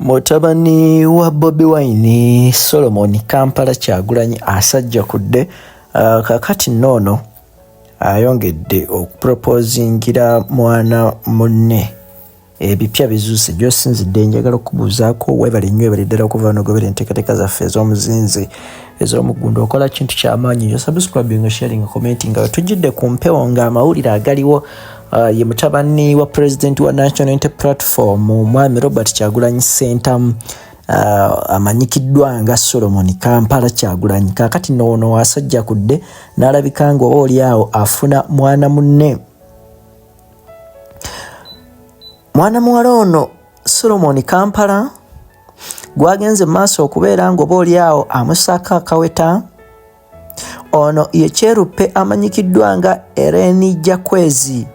mutabani wa bobi wine solomon kampala kyagulanyi asajja kudde uh, kakati noono ayongedde okupropozingira mwana munne ebipya bizuuse gyosinzidde njagala okubuuzaako webale nnyo ebale ddala okuva nogobera enteekateeka zaffe ez'omuzinzi ez'omuggundu okola kintu kyamaanyi nyo subscribing sharing commenting nga tujjidde ku mpewo nga amawulire agaliwo uh, ye mutabani wa president wa national unity platform omwami robert kyagulanyi sentamu uh, amanyikiddwa nga solomon kampala kyagulanyi kakati noono wasajja kudde n'alabika nga oba oli awo afuna mwana munne mwana muwala ono solomon kampala gwagenze maaso okubeera ng'oba oli awo amusaako akaweta ono ye kyeruppe amanyikiddwa nga ereni jakwezi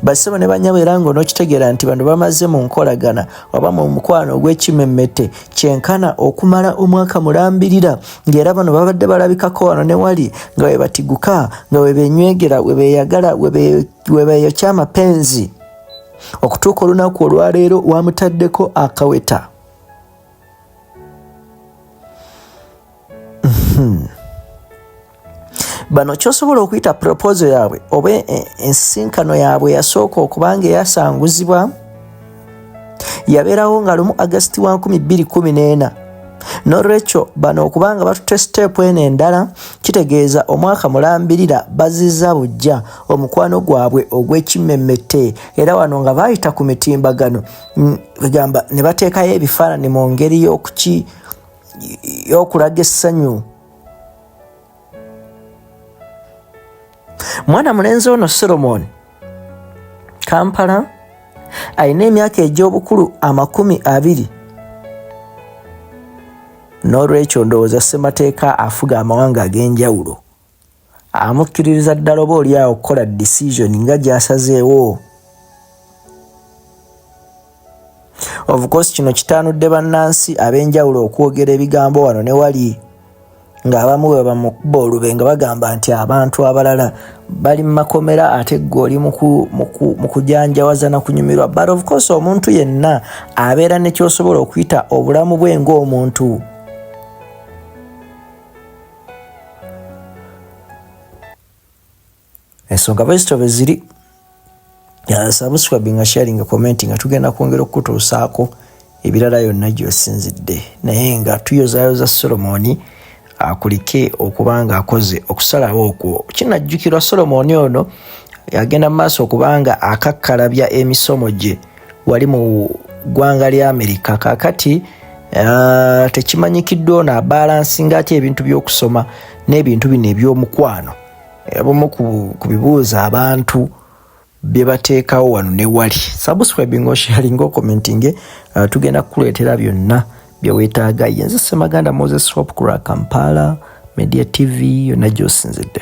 basebo ne banyabo era nga onokitegeera nti bano bamaze mu nkolagana oba mu mukwano ogw'ekimemmete kyenkana okumala omwaka mulambirira ng'era bano babadde balabikako wano ne wali nga webatiguka nga webenywegera webeyagala webeyokya amapenzi okutuuka olunaku olwaleero wamutaddeko akaweta hmm. bano kyosobola okuyita proposo yaabwe oba e, e, ensinkano yaabwe yasooka okubanga eyasanguzibwa yabeerawo nga lumu agasiti wa 214 nolwekyo bano okubanga batutte siteepu eno endala kitegeeza omwaka mulambirira baziza bujja omukwano gwabwe ogw'ekimmemmette era wano nga baayita ku mitimbagano mm, egamba ne bateekayo ebifaananyi mu ngeri y'okuki y'okulaga essanyu mwana mulenzi ono solomoni kampala alina emyaka egy'obukulu amakumi abiri n'olwekyo ndowooza ssemateeka afuga amawanga ag'enjawulo amukkiririza ddala oba oli awo okukola decision nga gyasazeewo obukosi kino kitaanudde bannansi ab'enjawulo okwogera ebigambo wano ne wali ng'abamu bwe bamukuba olube nga bagamba nti abantu abalala bali mu makomera ate ggwe oli mu kujanjawaza na kunyumirwa but of course omuntu yenna abeera ne kyosobola okuyita obulamu bwe ng'omuntu ensonga bwezityo bweziri subscribing sharing commenti nga tugenda kwongera okukutuusaako ebirala yonna gyosinzidde naye nga tuyozayoza solomoni akulike okuba nga akoze okusalawo okwo kinajjukirwa solomoni ono agenda mu maaso okubanga akakkalabya emisomo gye wali mu ggwanga lya amerika kakati uh, tekimanyikiddwa ono abalansi ngaatya ebintu by'okusoma n'ebintu bino eby'omukwano abamu ku bibuuzo abantu bye bateekawo wano ne wali subscribing osharing okomentinge uh, tugenda kukuleetera byonna bye weetaaga yenze semaganda moses hop kura kampala media tv yonna gy'osinzidde